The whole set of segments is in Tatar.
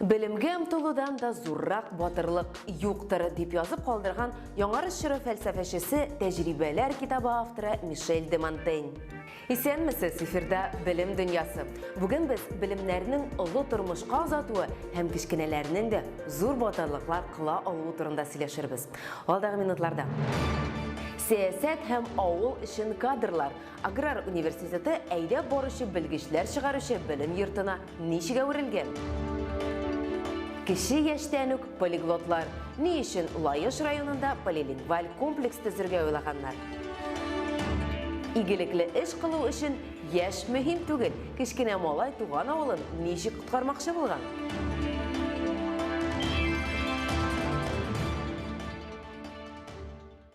Белемгә омтылудан да зуррак батырлык юктыр, дип язып калдырган Яңарыш чоры фәлсәфәчесе, тәҗрибәләр китабы авторы Мишель де Монтень. Исәнмесез, эфирда Белем дөньясы. Бүген без белемнәрнең олы тормышка озатуы һәм кечкенәләрнең дә зур батырлыклар кыла алуы турында сөйләшербез. Алдагы минутларда. Сәясәт һәм авыл өчен кадрлар. Аграр университеты әйдәп баручы белгечләр чыгаручы белем йортына ничек әверелгән? Кече яшьтән үк полиглотлар ни өчен Лаеш районында полилингваль комплекс төзергә уйлаганнар? Игелекле эш кылу өчен яшь мөһим түгел. Кечкенә малай туган авылын ничек коткармакчы булган?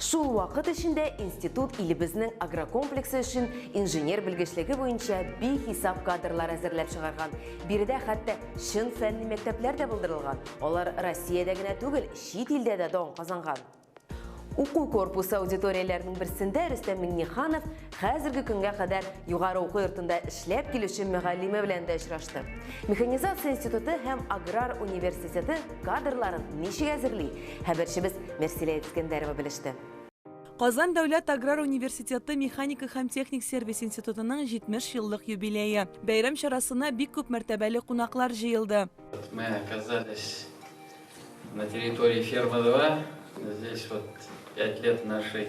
Шул вакыт эчендә институт илебезнең агрокомплексы өчен инженер белгечлеге буенча бихисап кадрлар әзерләп чыгарган. Биредә хәтта чын фәнни мәктәпләр дә булдырылган. Алар Россиядә генә түгел, чит илдә дә дан казанган. Уку корпусы аудиторияләренең берсендә Рөстәм Миңнеханов Хәзерге көнгә кадәр югары уку йортында эшләп килүче мөгаллиме белән дә очрашты. Механизация институты һәм аграр университеты кадрларын ничек әзерли? Хәбәрчебез Мерсилә Искәндәрова белеште. Казан дәүләт аграр университеты механика һәм техник сервис институтының 70 еллык юбилее. Бәйрәм чарасына бик күп мәртәбәле кунаклар җыелды. Мы оказались на территории фермы 2. Здесь вот 5 лет нашей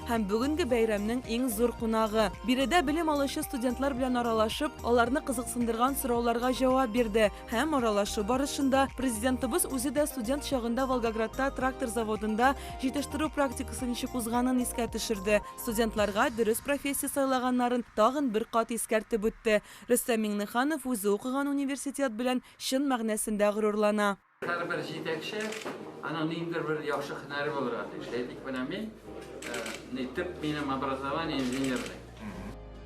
һәм бүгенге бәйрәмнең иң зур кунагы. Биредә белем алучы студентлар белән аралашып, аларны кызыксындырган сорауларга җавап бирде һәм аралашу барышында президентыбыз үзе дә студент чагында Волгоградта трактор заводында җитештерү практикасы ничек узганын искә төшерде. Студентларга дөрес профессия сайлаганнарын тагын бер кат искәртеп үтте. Рөстәм Миңнеханов үзе укыган университет белән чын мәгънәсендә горурлана. Һәрбер җитәкче аның ниндидер бер яхшы һөнәре булырга тиеш. Әйтик, менә мин, ни төп минем образование инженерный.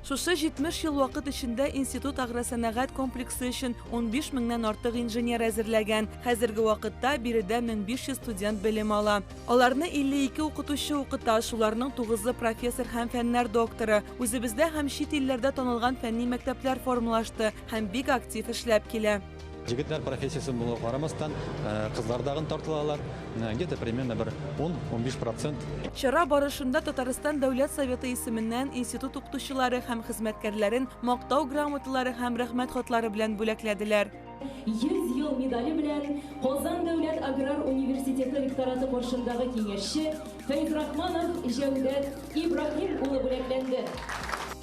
Шушы 70 ел вакыт эчендә институт агросәнәгать комплексы өчен 15 меңнән артык инженер әзерләгән. Хәзерге вакытта биредә 1500 студент белем ала. Аларны 52 укытучы укыта, шуларның тугызы профессор һәм фәннәр докторы. Үзебездә һәм чит илләрдә танылган фәнни мәктәпләр формалашты һәм бик актив эшләп килә. Җегетләр профессиясе булуга карамастан, кызлар дагын тартылалар, где-то примерно бер 10-15 процент. Чара барышында Татарстан Дәүләт Советы исеменнән институт укытучылары һәм хезмәткәрләрен мактау грамоталары һәм рәхмәт хатлары белән бүләкләделәр. 100 ел медале белән Казан дәүләт аграр университеты ректораты каршындагы киңәшче Фәйзрахманов Җәүдәт Ибраһим улы бүләкләнде.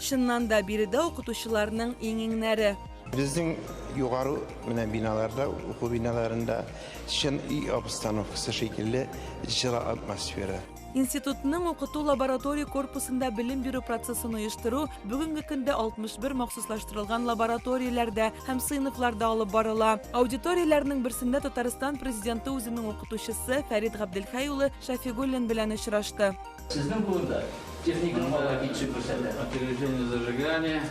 Чыннан да, биредә укытучыларның иң-иңнәре. Безнең югары менә биналарда, уку биналарында чын өй обстановкасы шикелле җылы атмосфера. Институтның укыту лабораторик корпусында белем бирү процессын оештыру бүгенге көндә 61 махсуслаштырылган лабораторияләрдә һәм сыйныфларда алып барыла. Аудиторияләрнең берсендә Татарстан Президенты үзенең укытучысы Фәрит Габделхәй улы Шәфигуллин белән очрашты. Сезнең кулында техника нумаралар китешеп күрсәтә. Опережение зажигания,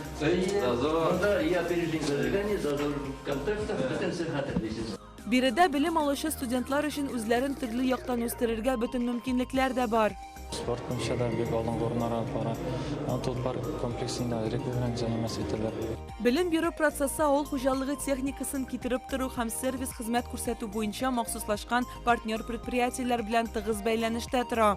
дозор. Монда и опережение зажигания, дозор контактов, бөтенесен хәтерлисез. Биредә белем алучы студентлар өчен үзләрен төрле яктан үстерергә бөтен мөмкинлекләр дә бар. Спорт буенча да бик алдынгы урыннар алып бара. Аны тулы парк комплексында регби белән заниматься итәләр. Белем бирү процессы авыл хуҗалыгы техникасын китереп тору һәм сервис хезмәт күрсәтү буенча махсуслашкан партнер предприятиеләр белән тыгыз бәйләнештә тора.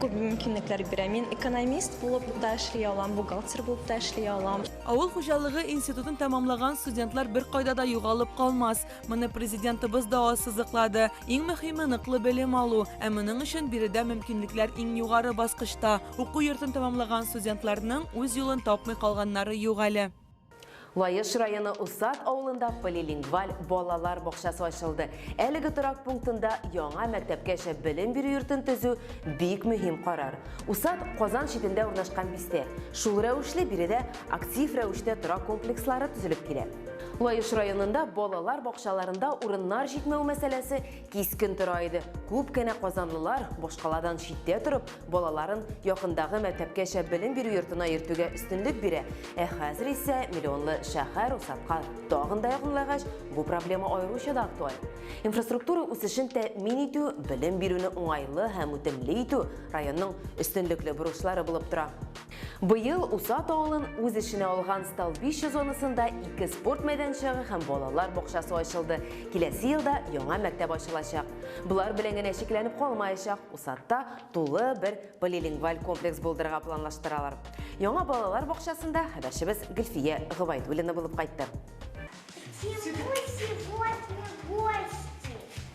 Күп мөмкинлекләр бирә. Мин экономист булып та эшли алам, бухгалтер булып та эшли алам. Авыл хуҗалыгы институтын тәмамлаган студентлар беркайда да югалып калмас. Моны президентыбыз да ассызыклады. Иң мөһиме ныклы белем алу, ә моның өчен биредә мөмкинлекләр иң югары баскычта. Уку йортын тәмамлаган студентларның үз юлын тапмый калганнары юк әле. Лаеш районы Усад авылында полилингваль балалар бакчасы ачылды. Әлеге торак пунктында яңа мәктәпкәчә белем бирү йортын төзү бик мөһим карар. Усад Казан читендә урнашкан бистә. Шул рәвешле биредә актив рәвештә торак комплекслары төзелеп килә. Лаеш районында балалар бакчаларында урыннар җитмәү мәсьәләсе кискен тора иде. Күп кенә казанлылар, башкаладан читтә торып, Балаларын якындагы мәктәпкәчә белем бирү йортына йөртүгә өстенлек бирә, ә хәзер исә миллионлы шәһәр усапка тагын да якынлайгач, бу проблема аеруча да актуаль. Инфраструктура үсешен тәэмин итү, белем бирүне уңайлы һәм үтемле итү районның өстенлекле бурычлары булып тора. Быел Усад авылын үз эченә алган Столбище зонасында ике спорт мәйданчыгы һәм балалар бакчасы ачылды. Киләсе елда яңа мәктәп ачылачак. Болар белән генә чикләнеп калмаячак, Усадта тулы бер полилингваль комплекс булдырырга планлаштыралар. Яңа балалар бакчасында хәбәрчебез Гөлфия Гобәйдуллина булып кайтты. Сегодня сегодня гости.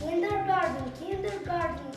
Киндергарден, киндергарден,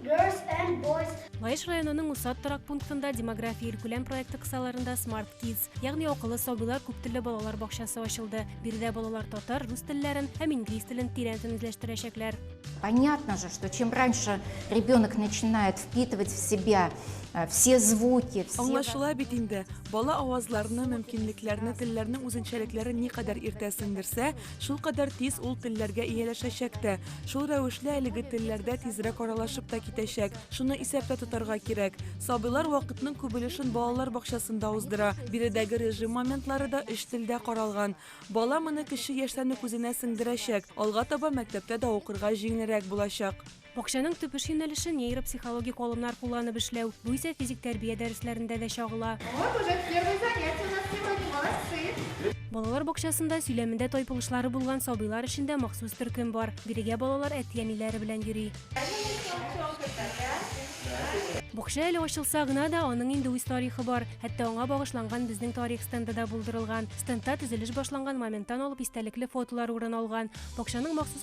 girls and boys. Лаеш районының Усад торак пунктында демография илкүләм проекты кысаларында Smart Kids, ягъни акыллы сабыйлар күптөрле балалар бакчасы ачылды. Биредә балалар татар, рус телләрен һәм инглиз телен тирәнтен үзләштерәчәкләр. Понятно же, что чем раньше ребенок начинает впитывать в себя э, все звуки, все... Аңлашыла бит инде, бала авазларны, мөмкинлекләрне, телләрнең үзенчәлекләрен никадәр иртә сеңдерсә, Шулкадәр тиз ул телләргә ияләшәчәк тә. Шул рәвешле әлеге телләрдә тизрәк аралашып та китәчәк. Шуны исәптә тотарга кирәк. Сабыйлар вакытның күп өлешен балалар бакчасында уздыра. Биредәге режим моментлары да өч телдә каралган. Бала моны кече яшьтән үк үзенә сеңдерәчәк. Алга таба мәктәптә дә укырга җиңелрәк булачак. Бакчаның төп эш юнәлеше нейропсихологик алымнар кулланып эшләү, бу исә физик тәрбия дәресләрендә дә чагыла. Вот уже первые занятия у нас сегодня, молодцы! Балалар бакчасында сөйләмендә тайпылышлары булган сабыйлар өчен дә махсус төркем бар. Бирегә балалар әти-әниләре белән йөри. Бакча әле ачылса гына да, аның инде үз тарихы бар. Хәтта аңа багышланган безнең тарих стенды да булдырылган. Стендта төзелеш башланган моменттан алып истәлекле фотолар урын алган. Бакчаның махсус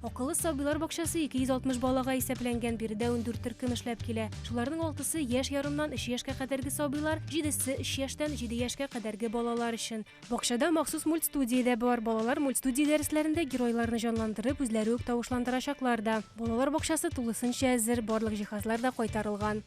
Акыллы сабыйлар бакчасы 260 балага исәпләнгән, биредә ундүрт төркем эшләп килә. Шуларның алтысы яшь ярымнан өч яшькә кадәрге сабыйлар, җидесе өч яшьтән җиде яшькә кадәрге балалар өчен. Бакчада махсус мультстудия дә бар. Балалар мультстудия дәресләрендә геройларны җанландырып, үзләре үк тавышландырачаклар да. Балалар бакчасы тулысынча әзер, барлык җиһазлар да кайтарылган.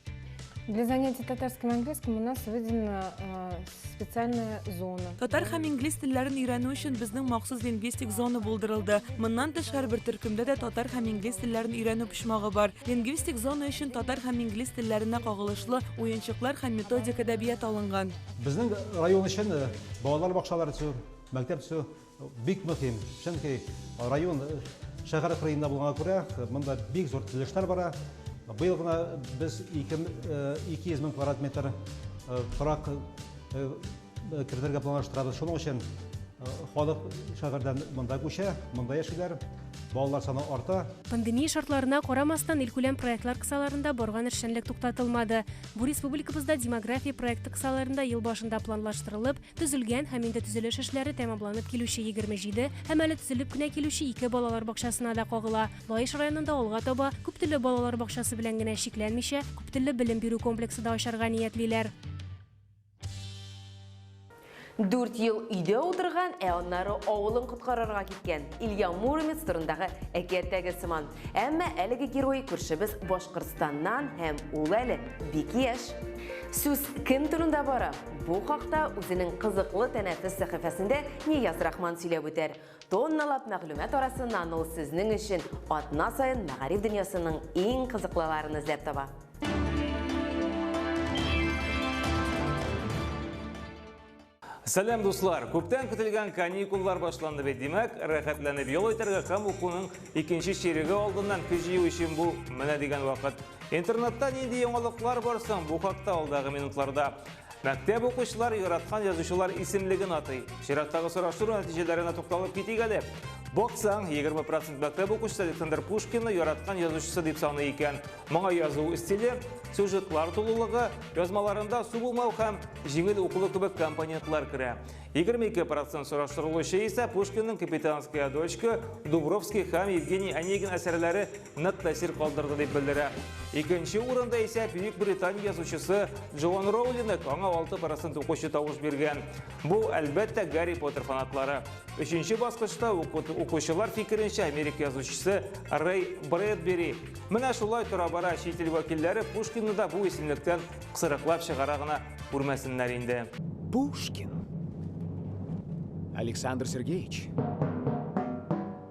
Для занятий татарским и английским у нас выделено э, специальная зона. Татар һәм инглиз телләрен өйрәнү өчен безнең махсус лингвистик зона булдырылды. Моннан тыш һәрбер төркемдә дә татар һәм инглиз телләрен өйрәнү почмагы бар. Лингвистик зона өчен татар һәм инглиз телләренә кагылышлы уенчыклар һәм методик әдәбият алынган. Безнең район өчен балалар бакчалары төзү, мәктәп төзү Бик мөһим, чөнки район шәһәр кырыенда булганга күрә, монда бик зур төзелешләр бара. Быел гына без 200 мең квадрат метр торак кертергә планлаштырабыз. Шуның өчен халык шәһәрдән монда күчә, монда яшиләр, балалар саны арта. Пандемия шартларына карамастан, илкүләм проектлар кысаларында барган эшчәнлек туктатылмады. Бу республикабызда демография проекты кысаларында ел башында планлаштырылып, Төзелгән һәм инде төзелеш эшләре тәмамланып килүче 27 һәм әле төзелеп кенә килүче ике балалар бакчасына да кагыла. Лаеш районында алга таба күптөрле балалар бакчасы белән генә чикләнмичә, күптөрле белем бирү комплексы да ачарга ниятлиләр. Дүрт ел өйдә утырган, ә аннары авылын коткарырга киткән Илья Муромец турындагы әкияттәге сыман. Әмма әлеге герой күршебез Башкортстаннан һәм ул әле бик яшь. Сүз кем турында бара? Бу хакта үзенең кызыклы тәнәфес сәхифәсендә Нияз Рахман сөйләп үтәр. Тонналап мәгълүмат арасыннан ул сезнең өчен атна саен мәгариф дөньясының иң кызыклыларын эзләп таба. Сәлам дуслар! Күптән көтелгән каникуллар башланды бит, димәк, рәхәтләнеп ял итәргә һәм укуның икенче чиреге алдыннан көч җыю өчен бу менә дигән вакыт. Интернетта нинди яңалыклар бар соң? Бу хакта алдагы минутларда. Мәктәп укучылар яраткан язучылар исемлеген атый. Чираттагы сорашу нәтиҗәләренә тукталып китик әле. Баксаң, 20% мәктәп укучысы Александр Пушкинны яраткан язучысы дип саный икән. Моңа язу стиле, сюжетлар тулылыгы, язмаларында су булмау һәм җиңел укулы кебек компонентлар керә. 22% сораштырылучы исә Пушкинның Капитанская дочка, Дубровский һәм Евгений Онегин әсәрләре нык тәэсир калдырды дип белдерә. Икенче урында исә Бөек Британия язучысы Джоан Роулинг, аңа 6% укучы тавыш биргән. Бу, әлбәттә, Гарри Поттер фанатлары. Өченче баскычта укучылар фикеренчә Америка язучысы Рэй Брэдбери. Менә шулай тора-бара чит ил вәкилләре Пушкинны да бу исемлектән кысрыклап чыгара гына күрмәсеннәр инде. Пушкин. Александр Сергеевич.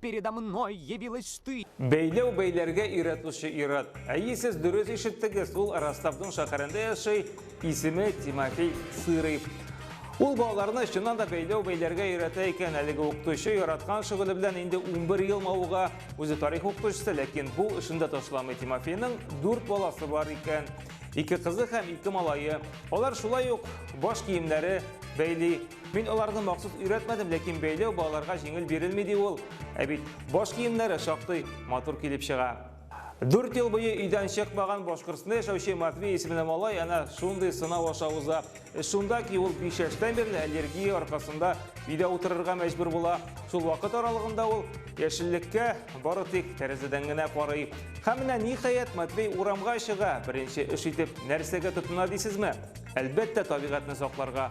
Передо мной явилась ты. Бәйләү бәйләргә өйрәтүче ир-ат. Әйе, сез дөрес ишеттегез, ул Ростовның шәһәрендә яши, исеме Тимофей Сырыев. Ул балаларны чыннан да бәйләү бәйләргә өйрәтә икән. Әлеге укытучы яраткан шөгыле белән инде 11 ел мавыга. Үзе тарих укытучысы, ләкин бу эшен дә ташламый. Тимофейның дүрт баласы бар икән. Ике кызы һәм ике малае. Алар шулай ук баш киемнәре бәйли. Мин аларны махсус өйрәтмәдем, ләкин бәйләү балаларга җиңел бирелми ди ул. Ә бит баш киемнәре шактый матур килеп чыга. Дүрт ел буе өйдән чыкмаган Башкортстанда яшәүче Матвей исемле малай әнә шундый сынау аша уза. Эш шунда ки, ул биш яшьтән бирле аллергия аркасында өйдә утырырга мәҗбүр була. Шул вакыт аралыгында ул яшеллеккә бары тик тәрәзәдән генә карый. Һәм менә ниһаять Матвей урамга чыга. Беренче эш итеп нәрсәгә тотына дисезме? Әлбәттә, табигатьне сакларга.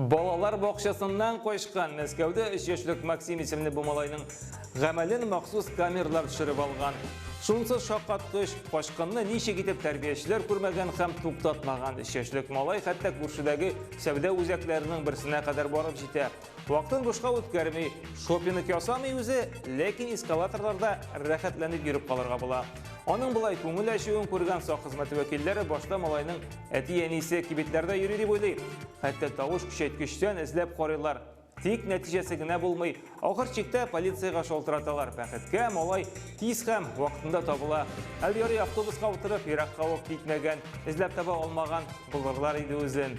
Балалар бакчасыннан качкан Мәскәүдә өч яшьлек Максим исемле бу малайның гамәлен махсус камерлар төшереп алган. Шунысы шаккаткыч, качкынны ничек итеп тәрбиячеләр күрмәгән һәм туктатмаган. Өч яшьлек малай хәтта күршедәге сәүдә үзәкләренең берсенә кадәр барып җитә. Вакытын бушка үткәрми, шопинг ясамый үзе, ләкин эскалаторларда рәхәтләнеп йөреп калырга була. Аның болай күңел ачуын күргән сак хезмәте вәкилләре башта малайның Әти-әнисе кибетләрдә йөри дип уйлый. Хәтта тавыш көчәйткечтән эзләп карыйлар. Тик нәтиҗәсе генә булмый. Ахыр чиктә полициягә шалтыраталар. Бәхеткә, малай тиз һәм вакытында табыла. Әл ярый автобуска утырып, еракка ук китмәгән. Эзләп таба алмаган булырлар иде үзен.